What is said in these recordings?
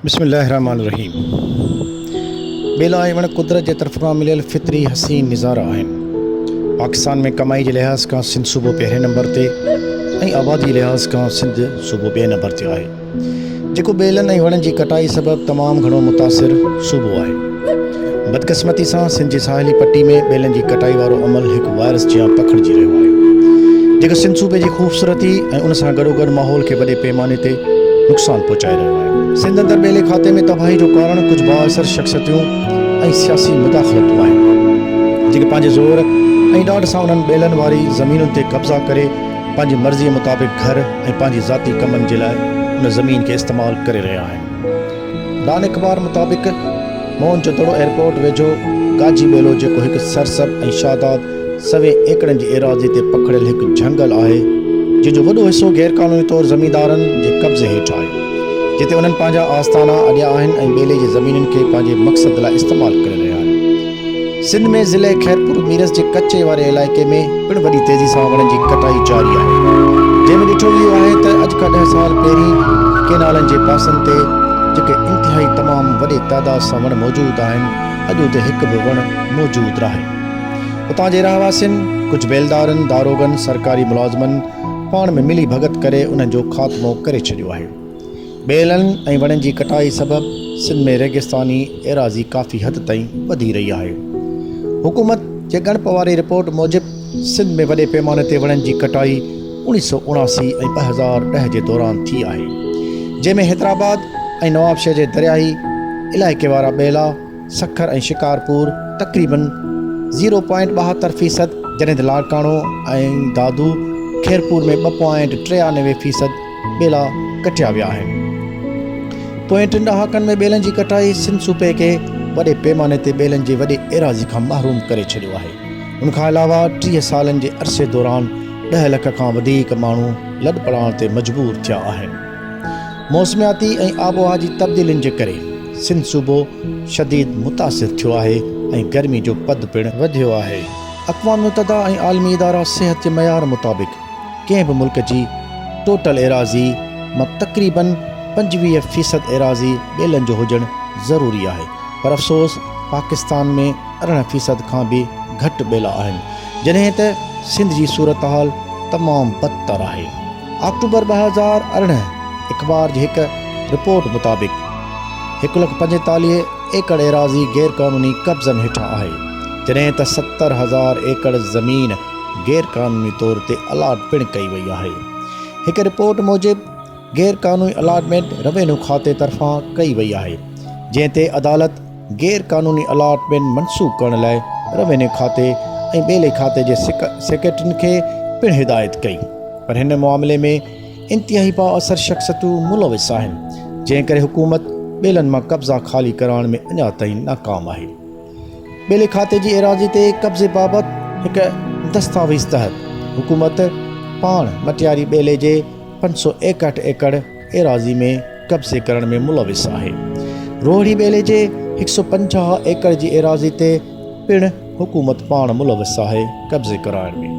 بسم الله الرحمٰن الرحيم ٻيلا ۽ وڻ قدرت جي طرف کان مليل فطري حسين نظارا آهن. پاڪستان ۾ ڪمائي جي لحاظ کان سنڌ صوبو پهرين نمبر تي ۽ آبادي جي لحاظ کان سنڌ صوبو ٻئي نمبر تي آهي جيڪو ٻيلن ۽ وڻن جي ڪٽائي سبب تمام گهڻو متاثر صوبو آهي. بدقسمتي سان سنڌ جي ساحلي پٽي ۾ ٻيلن جي ڪٽائي وارو عمل هڪ وائرس جيان پکڙجي رهيو آهي جيڪو سنڌ صوبي جي خوبصورتي ۽ ان سان گڏوگڏ ماحول کي وڏي پيماني تي نقصان پهچائي رهيو آهي. سنڌ اندر ٻيلي کاتي ۾ تباهي جو ڪارڻ ڪجهه بااثر شخصيتون ۽ سياسي مداخلتون آهن جيڪي پنهنجي زور ۽ ڏاڍ سان انهن ٻيلن واري زمينن تي قبضا ڪري پنهنجي مرضي مطابق گهر ۽ پنهنجي ذاتي ڪمن جي لاء ان زمين کي استعمال ڪري رهيا آهن. ڊان اخبار مطابق، موهن جودڙو ايئرپورٽ ويجهو گاجي ٻيلو جيڪو هڪ سرسبز ۽ شاداب سوين ايڪڙن جي ايراضي تي پکڙيل هڪ جهنگل آهي، جنهن جو وڏو حصو غيرقانوني طور زميندارن جي قبضي هيٺ آهي، جتي انهن پنهنجا آستانا اڏيا آهن ۽ ٻيلي جي زمينن کي پنهنجي مقصد لاء استعمال ڪري رهيا آهن. سنڌ ۾ ضلعي خيرپور ميرس جي ڪچي واري علائقي ۾ پڻ وڏي تيزي سان وڻن جي ڪٽائي جاري آهي جنهن ۾ ڏٺو اهو آهي ته اڄ کان ڏهه سال پهرين ڪينالن جي پاسن تي جيڪي انتهائي تمام وڏي تعداد سان وڻ موجود آهن اڄ اتي هڪ به وڻ موجود ناهي اتان جي رهواسين ڪجهه بيلدارن داروغن سرڪاري ملازمن پاڻ ۾ ملي ڀڳت ڪري انهن جو خاتمو ڪري ڇڏيو آهي ٻيلن ۽ وڻن جي ڪٽائي سبب سنڌ ۾ ريگستاني ايراضي ڪافي حد تائين وڌي رهي آهي. حڪومت جي ڳڻپ واري رپورٽ موجب سنڌ ۾ وڏي پيماني تي وڻن جي ڪٽائي اڻيهه سؤ اڻاسي ۽ ٻه هزار ڏهه جي دوران ٿي آهي، جنهن ۾ حيدرآباد ۽ نوابشهر جي درياهي علائقي وارا ٻيلا، سکر ۽ شڪارپور تقريباً زيرو پوائنٽ ٻاهتر فيصد جڏهن ته لاڙڪاڻو ۽ دادو خيرپور ۾ ٻه پوائنٽ ٽيانوي فيصد ٻيلا ڪٽيا ويا آهن. پوئين ٽن ڏهاڪن ۾ ٻيلن جي ڪٽائي سنڌ صوبي کي وڏي پيماني تي ٻيلن جي وڏي ايراضي کان محروم ڪري ڇڏيو آهي. ان کان علاوه ٽيهه سالن جي عرصي دوران ڏهه لک کان وڌيڪ ماڻهو لڏپلاڻ تي مجبور ٿيا آهن. موسمياتي ۽ آبهوا جي تبديلين جي ڪري سنڌ صوبو شديد متاثر ٿيو آهي ۽ گرمي جو پد پڻ وڌيو آهي. اقوام متحده ۽ عالمي ادارا صحت جي معيار مطابق ڪنهن به ملڪ جي ٽوٽل ايراضي مان تقريباً پنجويهه فيصد ايراضي ٻيلن جو هجڻ ضروري آهي پر افسوس پاڪستان ۾ ارڙهن فيصد کان به گهٽ ٻيلا آهن جڏهن ته سنڌ جي صورتحال تمام بدتر آهي آڪٽوبر ٻه هزار ارڙهن اخبار جي هڪ رپورٽ مطابق هڪ لک پنجيتاليهه ايڪڙ ايراضي غيرقانوني قبضن هيٺان آهي جڏهن ته ستر هزار ايڪڙ زمين غير قانوني طور تي الاٽ پڻ ڪئي وئي آهي. هڪ رپورٽ موجب غير قانوني الاٽمينٽ روينو کاتي طرفان ڪئي وئي آهي جنهن تي عدالت غير قانوني الاٽمينٽ منسوخ ڪرڻ لاء روينو کاتي ۽ ٻيلي کاتي جي سيڪريٽرين کي پڻ هدايت ڪئي پر هن معاملي ۾ انتهائي بااثر شخصيتون ملوث آهن جنهن ڪري حڪومت ٻيلن مان قبضا خالي ڪرائڻ ۾ اڃا تائين ناڪام آهي. ٻيلي کاتي جي ايراضي تي قبضي بابت هڪ دستاويز تحت حڪومت پاڻ مٽياري ٻيلي جي پنج سؤ ايڪهٺ ايڪڙ ايراضي ۾ قبضي ڪرڻ ۾ ملوث آهي. روهڙي ٻيلي جي هڪ سؤ پنجاهه ايڪڙ جي ايراضي تي پڻ حڪومت پاڻ ملوث آهي قبضي ڪرائڻ ۾.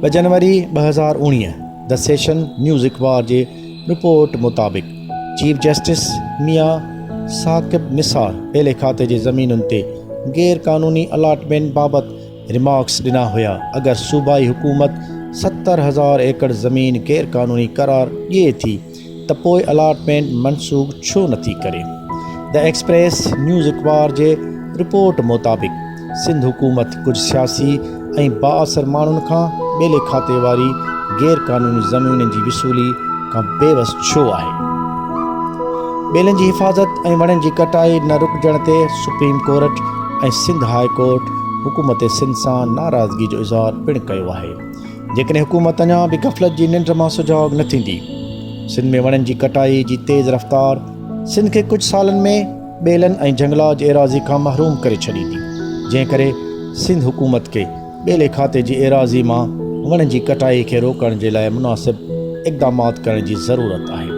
ٻه جنوري ٻه هزار اوڻيهه The Session نيوز اخبار جي رپورٽ مطابق چيف جسٽس ميان ثاقب نثار ٻيلي کاتي جي زمينن تي غير قانوني الاٽمينٽ بابت ريمارڪس ڏنا هيا اگر صوبائي حڪومت ستر هزار ايڪڙ زمين غير قانوني قرار ڏئي ٿي ته پوء الاٽمينٽ منسوخ ڇو نٿي ڪري دي ايڪسپريس نيوز اخبار جي رپورٽ مطابق سنڌ حڪومت ڪجهه سياسي ۽ بااثر ماڻهن کان ٻيلي کاتي واري غير قانوني زمينن جي وصولي کان بيوس ڇو آهي؟ ٻيلن جي حفاظت ۽ وڻن جي ڪٽائي نه رڪجڻ تي supreme court ۽ Sindh high court حڪومت سنڌ سان ناراضگي جو اظهار پڻ ڪيو آهي. جيڪڏهن حڪومت اڃا به غفلت جي ننڊ مان سجاڳ نه ٿيندي، سنڌ ۾ وڻن جي ڪٽائي جي تيز رفتار سنڌ کي ڪجهه سالن ۾ ٻيلن ۽ جهنگلات جي ايراضي کان محروم ڪري ڇڏيندي، جنهن ڪري سنڌ حڪومت کي ٻيلي کاتي جي ايراضي مان وڻن جي ڪٽائي کي روڪڻ جي لاء مناسب اقدامات ڪرڻ جي ضرورت آهي،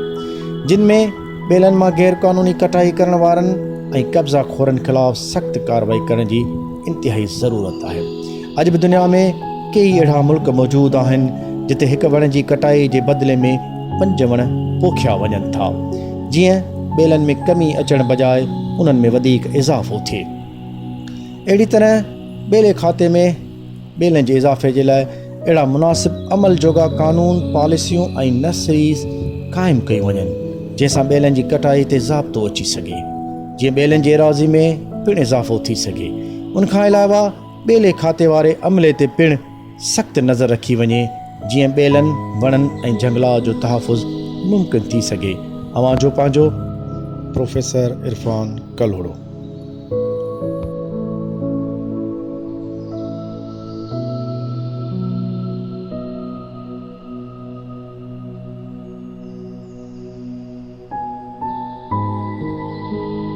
جن ۾ ٻيلن مان غير قانوني ڪٽائي ڪرڻ وارن ۽ قبضا خورن خلاف سخت ڪارروائي ڪرڻ جي انتهائي ضرورت آهي. اڄ به دنيا ۾ ڪيئي اهڙا ملڪ موجود آهن جتي هڪ وڻ جي ڪٽائي جي بدلي ۾ پنج وڻ پوکيا وڃن ٿا جيئن ٻيلن ۾ ڪمي اچڻ بجاء انهن ۾ وڌيڪ اضافو ٿئي اهڙي طرح ٻيلي کاتي ۾ ٻيلن جي اضافي جي لاء اهڙا مناسب عمل جوڳا قانون پاليسيون ۽ نسريز قائم ڪيون وڃن جنهن سان ٻيلن جي ڪٽائي تي ضابطو اچي سگهي جيئن ٻيلن جي ايراضي ۾ پڻ اضافو ٿي سگهي ان کان علاوه ٻيلي کاتي واري عملي تي پڻ سخت نظر رکي وڃي جيئن ٻيلن، وڻن ۽ جهنگلاء جو تحفظ ممڪن ٿي سگهي. اوهان جو پنهنجو. پروفيسر عرفان ڪلهوڙو.